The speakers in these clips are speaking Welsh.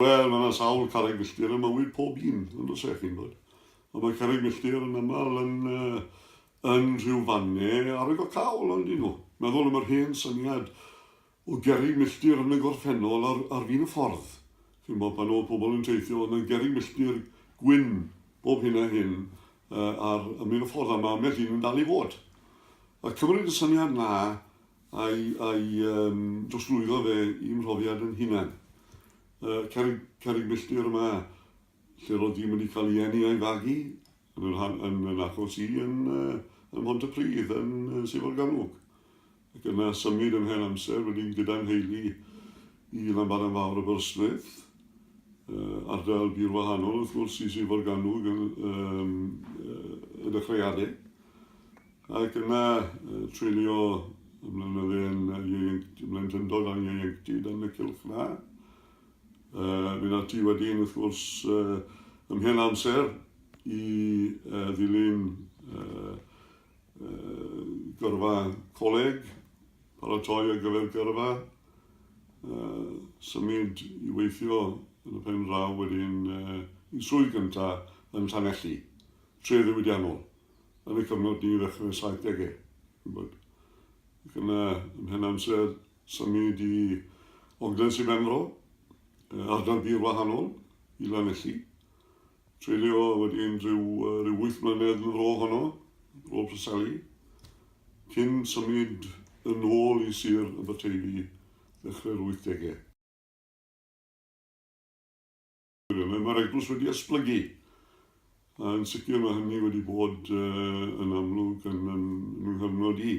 Wel, mae yna sawl carreg filltir ym mywyd pob un, yn does e, chi'n bod? Ond mae carreg filltir yn aml yn, uh, yn rhyw fanne ar y gocawl, ond dyn nhw. Meddwl am yr hen syniad o gerrig milltir yn y gorffennol ar, ar fin y ffordd. Chi'n bod, pan oedd pobl yn teithio, oedd yna gerrig milltir gwyn bob hyn a hyn uh, ar ymwneud y ffordd, a mae ambell un yn dal i fod. A cymryd y syniad na Ai a'i drosglwyddo fe i'm mhrofiad yn hunan. Y carreg, carreg milltir yma, lle roedd ddim wedi cael ei eni a'i fagu, yn yr han, yn yn achos i yn, ym Mhontypridd, yn Sir Forgannwg. Ac yna symud yn hen amser wedyn gyda'n nheulu i Lanbaran Fawr Aberystwyth, ardal bur wahanol wrth gwrs i Sir Forgannwg yn, yn, yn y chreadau. Ac yna, treulio y blynydde yn ieuenctid, y blentyndod a'n ieuenctid yn y cylch yna. Uh, mynd ati wedyn, wrth gwrs, uh, ymhen amser i uh, ddilyn uh, uh, gyrfa coleg, paratoi ar gyfer gyrfa, uh, symud i weithio yn y pen draw wedyn uh, i swydd gyntaf yn Llanelli, tref ddiwydiannol. ar y cyfnod ni ddechrau'r saithdegau. Bod. Ac yna, ym mhen amser, symud i Ogden Sir Benfro, ardal bur wahanol i Lanelli. Treulio wedyn rhyw, rhyw wyth mlynedd yn fro honno, fro Preseli, cyn symud yn ôl i Sir Aberteifi ddechrau'r 80au. Ie, mae mae'r eglwys wedi esblygu. A yn sicr mae hynny wedi bod uh, yn amlwg yn, yn, yn yng nghyfnod i.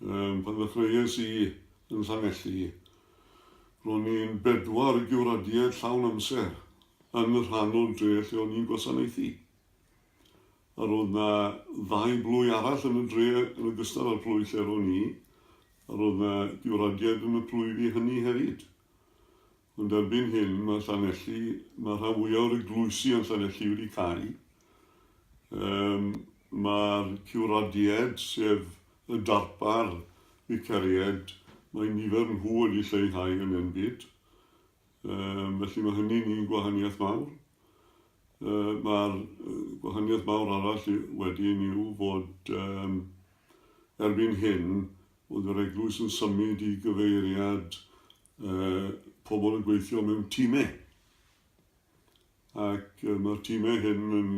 Um, pan ddechreuais i yn Llanelli, ro'n i'n bedwar giwradiaid llawn amser yn y rhan o'r dre lle o'n i'n gwasanaethu. A roedd na ddau blwy arall yn y dre yn ogystal â'r plwy lle ro'n i, a roedd na giwradiaid yn y plwy fi hynny hefyd. Ond erbyn hyn mae Llanelli, mae rhan fwyaf o'r eglwysi yn Llanelli wedi cau. Um, Mae'r cywradied, sef y darpar vicaried, mae nifer nhw wedi lleihau yn enbyd. Um, felly mae hynny'n un gwahaniaeth mawr. Uh, Mae'r gwahaniaeth mawr arall wedyn yw fod um, erbyn hyn oedd yr eglwys yn symud i gyfeiriad uh, pobl yn gweithio mewn tîmau. Ac uh, mae'r tîmau hyn yn,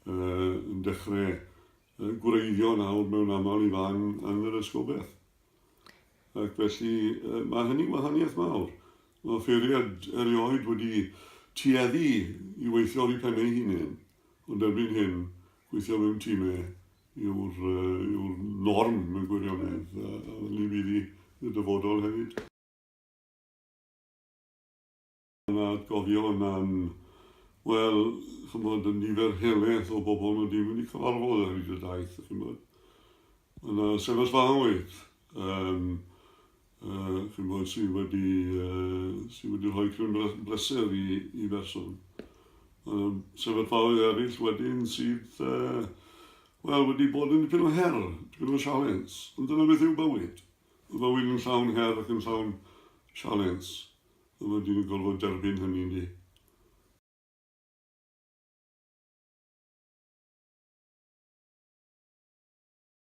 uh, yn dechrau uh, gwreiddio nawr mewn aml i fan yn yr ysgobeth. Ac felly uh, mae hynny'n wahaniaeth mawr. Mae ffeiriad erioed wedi tueddu i weithio ar ei pennau hunain, ond erbyn hyn, gweithio mewn tîmau yw'r yw'r norm mewn gwirionedd, a hynny fydd i y dyfodol hefyd. Yna gofio yna'n, wel, chymod, y nifer heleth o bobl nhw ddim wedi cyfarfod ar hyd y daith, chymod. Yna sefyllfaoedd, um, yy chi'n gwybod, sydd wedi yy sydd wedi rhoi cryn bleser i i berson. Mae sefyllfaoedd eraill wedyn sydd yy wel wedi bod yn dipyn o her, dipyn o sialens. Ond dyna beth yw bywyd. Mae bywyd yn llawn her ac yn llawn sialens. A mae dyn yn gorfod derbyn hynny ni.